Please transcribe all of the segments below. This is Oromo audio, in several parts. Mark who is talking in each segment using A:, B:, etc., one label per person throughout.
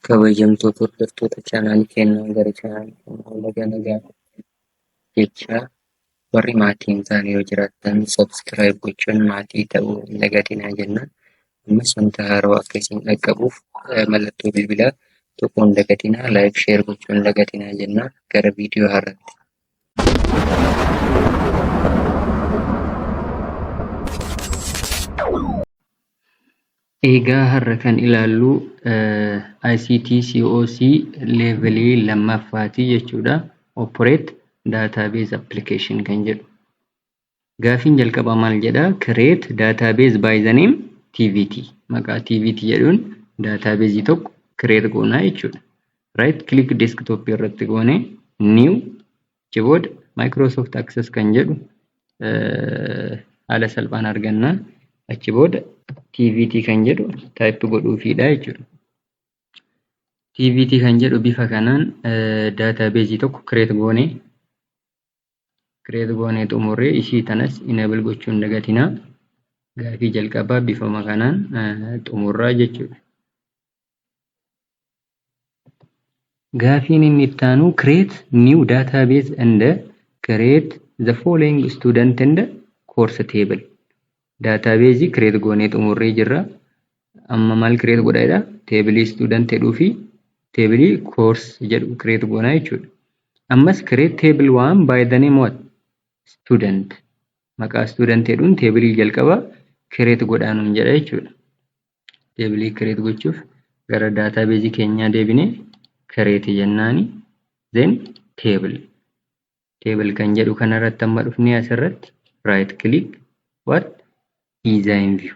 A: Kabajamtoota hordoftoota chaanaalii keenyaa gara chaanaalii keenyaa laga nagaa jecha warri maatii hin taane yoo jiraattan sabskiraayib gochuun maatii ta'uu hin dagatinaa jenna. Ammas wanta haarawa akka isin dhaqqabuuf eh, mallattoo bilbilaa tokko hin dagatinaa laayik sheer gochuu hin dagatinaa jenna gara viidiyoo haaraatti. Eegaa har'a kan ilaallu ICT COC level 2ffaa ti jechuudha. Operate Database Application kan jedhu. Gaafiin jalqabaa maal jedha? Create database by the name TVT. Maqaa TVT jedhuun database tokko create goonaa jechuudha. Right click desktop irratti goone new Achi booda Microsoft Access kan jedhu haala salphaan arganna. Achi booda TVT kan jedhu type godhuufiidha jechuudha. TVT kan jedhu bifa kanaan database tokko create goone create goone xumurree ishii tanas enable gochuun dagatina. Gaafii jalqabaa bifuma kanaan xumurraa jechuudha. Gaafiin inni itti aanu create new database and create the following student and course table. Database create goonee xumurree jirra. Amma maal create godha jedha? Table student jedhuu fi table course jedhu create goona jechuudha. Ammas create table one by the name what? Student. Maqaa student jedhuun table jalqaba create godhaa nuun jedha jechuudha. deebilee kireet gochuuf gara daataa beezii keenyaa deebine kireeti jennaani then table table kan jedhu kanarratti amma dhufnee asirratti right click what design view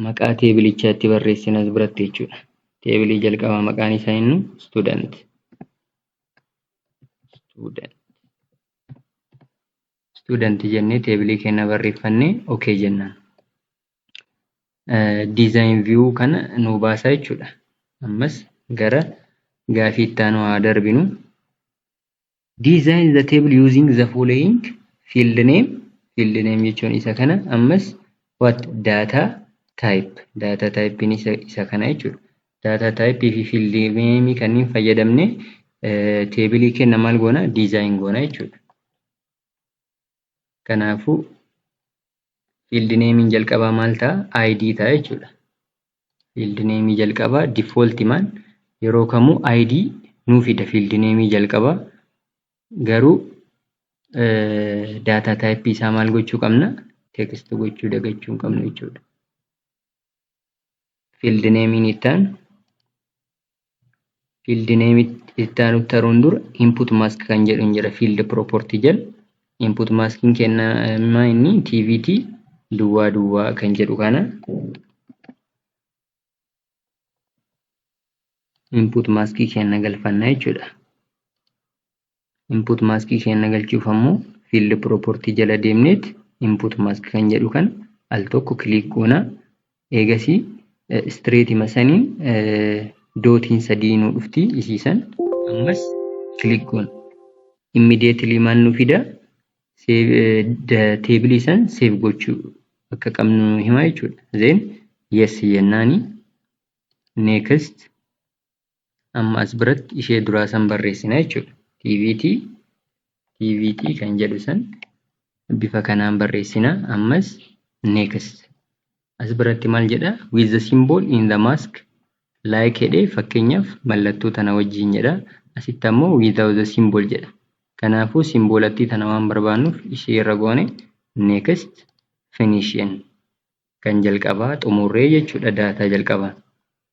A: maqaa teebilichaa itti barreessin as biratti jechuudha teebilii jalqabaa maqaan isaa inni student student student jennee teebilii keenya barreeffannee ok jennaan. Design view kana nuu baasaa jechuudha. Ammas gara gaafii itti aanu haa darbinu. Design the table using the following field name field name jechuun isa kana ammas what data type data type isa, isa kana jechuudha. Data type fi field name kanneen fayyadamne teebilii keenya maal goona design goona jechuudha. Kanaafuu field name'n jalqabaa maal ta'a? ID ta'a jechuudha. Field name jalqabaa default man yeroo kamuu ID nuu fida field name jalqabaa garuu data type isaa maal gochuu qabna? Text gochuu dagachuu hin qabnu jechuudha. field name ni ta'an field name itti aanu taruun dura input mask kan jedhu hin jira field property jal input masking kennama inni tvt duwwaa duwwaa kan jedhu kana input mask kenna galfanna jechuudha. Input mask keenna galchuuf ammoo field property jala deemneet input mask kan jedhu kan al tokko click goona. Eegasii straight ima saniin dootiin sadii nu dhufti isiisan ammas click goona. Immediately maal nu fida table san save gochuu akka qabnu nu hima jechuudha. Then yes jennaani next amma as biratti ishee duraa san barreessina jechuudha. TVT TVT kan jedhu san bifa kanaan barreessina ammas next as biratti maal jedha with the symbol in the mask like jedhee fakkeenyaaf mallattoo tana wajjiin jedha asitti ammoo without the symbol jedha kanaafuu simbolattii tana waan barbaannuuf ishee irra goone next finishing kan jalqabaa xumurree jechuudha daataa jalqabaa.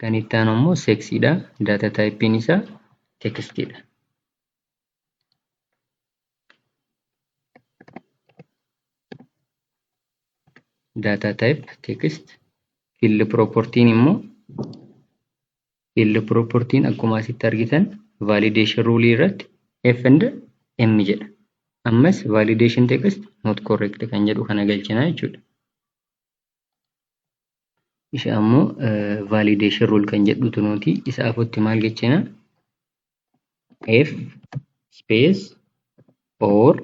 A: Kan itti aanu immoo seksiidha. Data type'n isaa tekstiidha. Data type text field property'n immoo Field property'n akkuma asitti argitan validation rule irratti F and M jedha. Ammas validation text not correct kan jedhu kana galchina jechuudha. Isa ammoo validation rule kan jedhutu nuti isa afutti maal jechina? F space or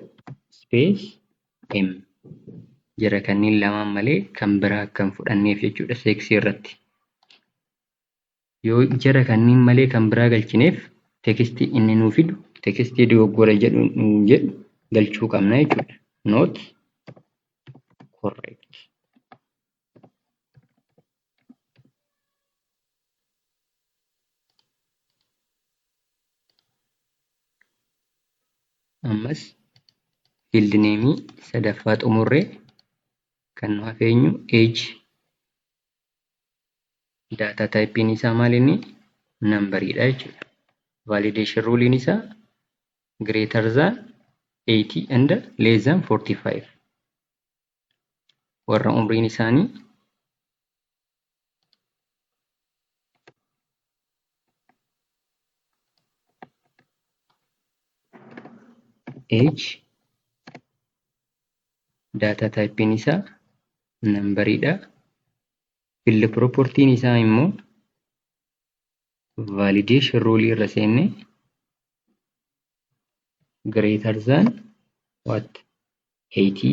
A: space M jira kanneen lamaan malee kan biraa akka hin fudhanneef jechuudha seeksii irratti. Yoo jara kanniin malee kan biraa galchineef text inni nuu fidu text dogoggora jedhu nuun jedhu galchuu qabna jechuudha. Not correct. Ammas field name sadaffaa xumurree kan nu hafeenyu age daataa taayippiin isaa maal inni nambariidha jechuudha. Validation ruuliin isaa greater than 80 and less than 45 warra umriin isaanii age data type isaa number dha field property isaa immoo validation rule irra seenne greater than what 80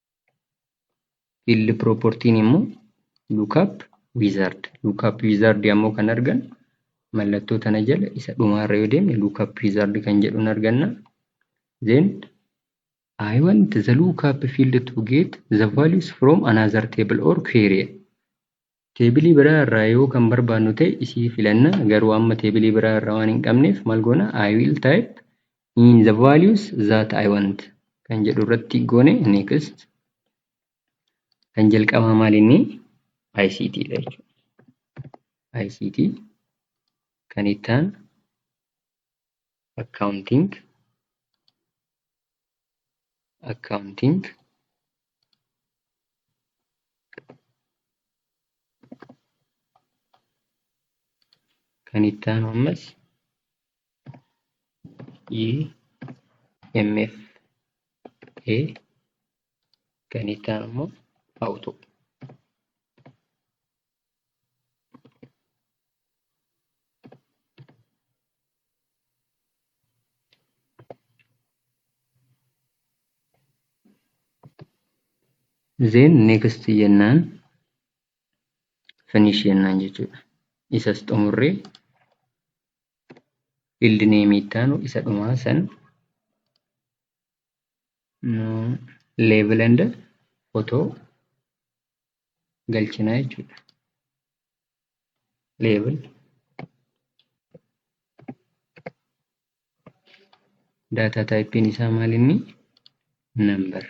A: field property immoo lookup wizard lookup wizard ammoo kan argannu mallattoo tana jala isa dhumaarra yoo deemne lookup wizard kan jedhun arganna then I want the lookup field to get the values from another table or query Teebilii biraa irraa yoo kan barbaannu ta'e isii filanna garuu amma teebilii biraa irraa waan hin qabneef mal goona I will type in the values that I want kan jedhu irratti goone next kan jalqabaa maal inni ICT dha jechuudha. ICT kan ittaan accounting accounting kan itti aanu ammas IMF A kan itti aanu immoo auto Then next jennaan finish jennaan jechuudha. Isas xumurree field name ittaanu isa dhumaa san label and photo galchinaa jechuudha. Level data typein isaa maal inni number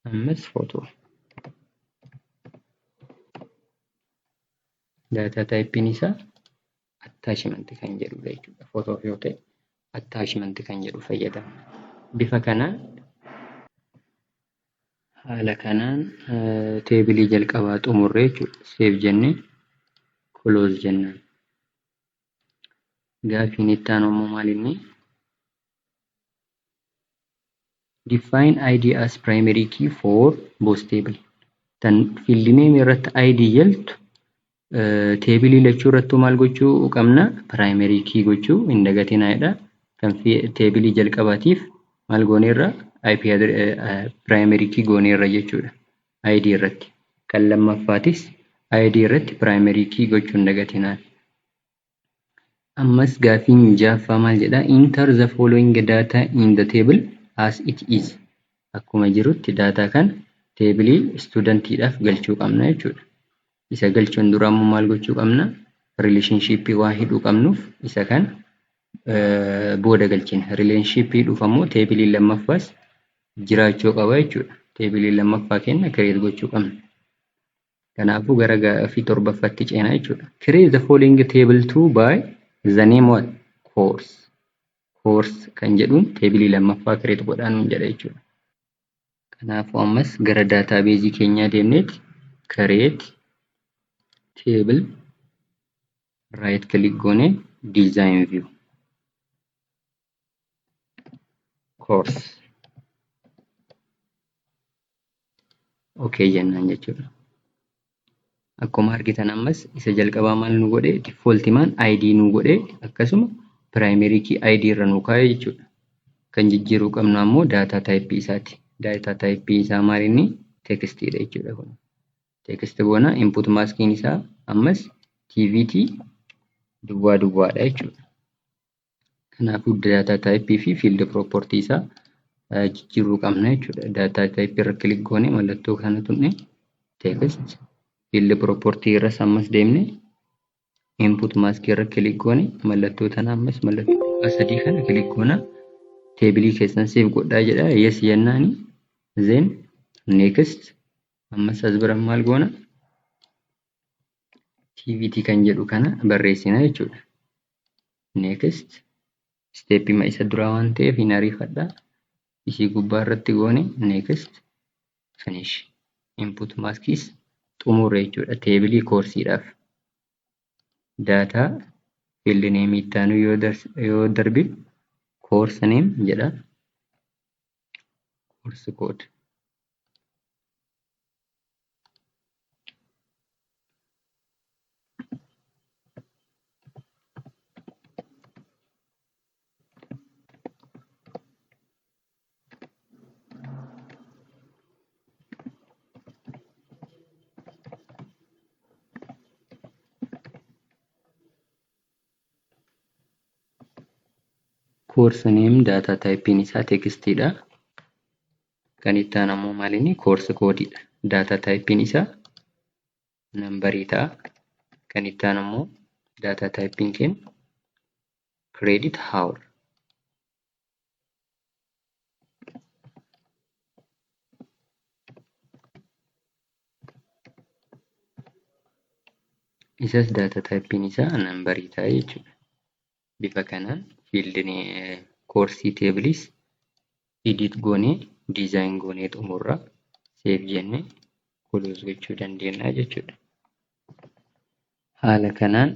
A: ammas photo data typein isaa attachment kan jedhudha jechuudha. Footoof yoo ta'e attachment kan jedhu fayyadama. Bifa kanaan haala kanaan teebilii jalqabaa xumurree jechuudha. Seef jennee close jennaan. Gaafiin itti aanu ammoo maal inni? Define id as primary key for both table. Tan field name irratti id jaltu teebilii lachuu irrattuu maal gochuu qabna primary key gochuu hin dagatinaa jedha. Kan teebilii jalqabaatiif maal gooneerra IP primary key gooneerra jechuudha. ID irratti. Kan lammaffaatis ID irratti primary key gochuu hin dagatinaa. Ammas gaaffiin ja'affaa maal jedha? Enter the following data in the table as it is. Akkuma jirutti daataa kana teebilii istuudantiidhaaf galchuu qabna jechuudha. Isa galchuun dura ammoo maal gochuu qabna? Rileeshinshiippii waan hidhuu qabnuuf isa kan booda galchina. Rileeshinshiippii hidhuuf ammoo teebiliin lammaffaas jiraachuu qaba jechuudha. Teebilii lammaffaa kenna kireet gochuu qabna. Kanaafuu gara gaaffii torbaffaatti ceena jechuudha. Create the following table 2 by the name what? Course. Course kan jedhuun teebilii lammaffaa create godhaa nuun jedha jechuudha. Kanaafuu ammas gara daataabeezii keenyaa deemneeti create table right click goone design view. course okay jennaan jechuudha. Akkuma argitan ammas isa jalqabaa maal nu godhe default maan ID nu godhe akkasuma primary key ID irra nu kaa'e jechuudha. Kan jijjiiruu qabnu ammoo data type isaati. Data type isaa maal inni text dha jechuudha kun. Text goona input maskiin isaa ammas TVT duwwaa duwwaadha jechuudha. Kanaafuu data type fi field property isaa jijjiiruu qabna jechuudha. Data type irra click goone mallattoo kana tunne text field property irras ammas deemne input mask irra click goone mallattoo tana ammas mallattoo xiqqaa sadii kana click goona teebilii keessan save godhaa jedha yes jennaani then next ammas as bira maal goona activity kan jedhu kana barreessina jechuudha. Next steepima isa duraa waan ta'eef hin ariifadha. Isii gubbaa irratti goone next finish input maskis xumurre jechuudha. Teebilii koorsiidhaaf daataa field name itti aanu yoo darbe course name jedha. Course code Course name data type isaa text dha. Kan itti aanu ammoo maal inni koorsi koodii dha. Daataa taayipiin isaa nambarii ta'a. Kan itti aanu ammoo daataa taayipiin keenya kireedit haawur. Isas daataa taayipiin isaa nambarii ta'a jechuudha. bifa kanaan fiildin koorsii teebiliis edit goonee diizaayin goonee xumurra seef jenne kuluus gochuu dandeenya jechuudha. Haala kanaan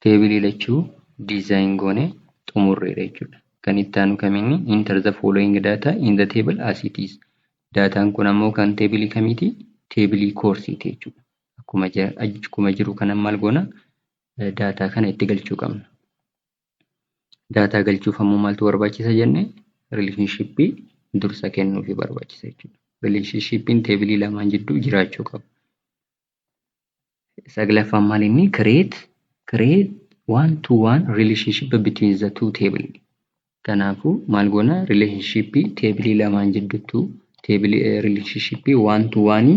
A: teebilii lachuu diizaayin goonee xumurreera jechuudha. Kan itti aanu kaminni enter the following data in the table as it is. Daataan kun ammoo kan teebilii kamiiti? Teebilii koorsiiti jechuudha. Akkuma jiru kanan maal goona? daataa kana itti galchuu qabna. Daataa galchuuf ammoo maaltu barbaachisa jenne rileeshnshippii dursa kennuufi barbaachisa jechuudha. Rileeshinshippiin teebilii lamaan jidduu jiraachuu qaba. Saglaffaan maal inni create create one to one relationship between the two table. Kanaafuu maal goona rileeshinshippii teebilii lamaan jidduttuu teebilii rileeshinshippii one to one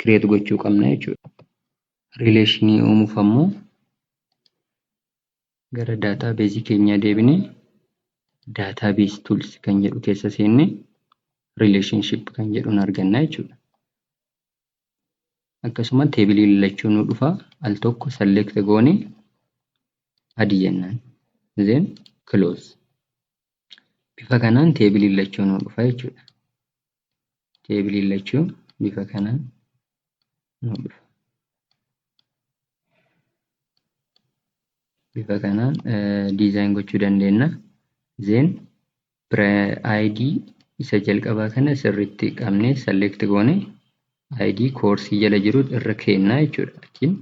A: create gochuu qabna jechuudha. Rileeshinii uumuuf ammoo gara daataa beezii keenyaa deebine daataa beez tuuls kan jedhu keessa seenne rileeshinship kan jedhuun arganna jechuudha. Akkasuma teebilii lallachuu nu dhufa al tokko select goone adi jennaan then close. Bifa kanaan teebilii lallachuu nu dhufa jechuudha. teebiliin lachuu bifa kanaan nu dhufa. Bifa kanaan diizaayin gochuu dandeenya. Zeen ID isa jalqabaa kana sirriitti qabnee select goone ID koorsii jala jiru irra keennaa jechuudha. Achiin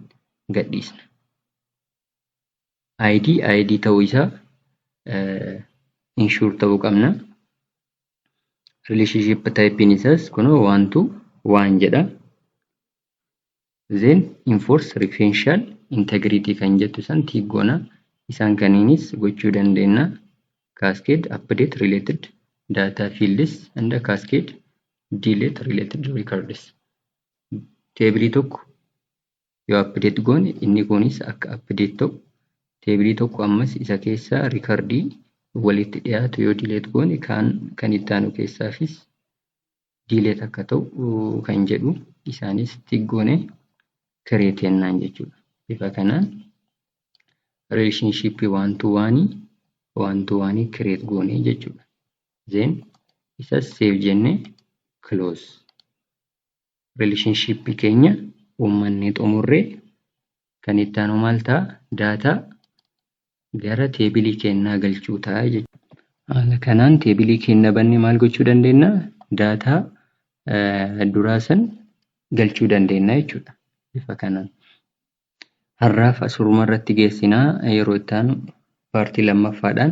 A: gadhiisna. ID ID ta'uu isaa inshuur ta'uu qabna. relationship typein isaas kunoo waan tu waan jedha then enforce referential integrity kan jettu san tiiggoona isaan kaniinis gochuu dandeenya cascade update related data fields and cascade delete related records teebilii tokko yoo update goone inni kunis akka update ta'u teebilii tokko ammas isa keessaa rikardii walitti dhiyaatu yoo delete goone kaan kan itti aanu keessaafis delete akka ta'u kan jedhu isaanis tik goone create jennaan jechuudha. Bifa kanaan relationship one to one one to one create goone jechuudha. Then isas save jenne close. relationship keenya uummannee xumurree kan itti aanu maal ta'a data gara teebilii keenyaa galchuu ta'a jechuudha. Haala kanaan teebilii keenya bannee maal gochuu dandeenya? Data duraa san galchuu dandeenya jechuudha. Bifa kanaan. Har'aaf asuruma irratti geessina. Yeroo itti aanu paartii lammaffaadhaan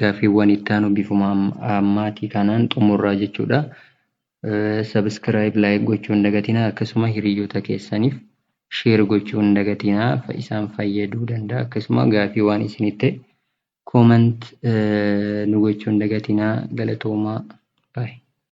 A: gaaffiiwwan itti aanu bifuma ammaatii kanaan xumurraa jechuudha. Sabiskiraayib laayik gochuu hin dagatinaa akkasuma hiriyyota keessaniif sheer gochuu hin dagatinaa isaan fayyaduu danda'a akkasuma gaafii waan isinit ta'e koomant nu gochuu hin dagatinaa galatoomaa baay'ee.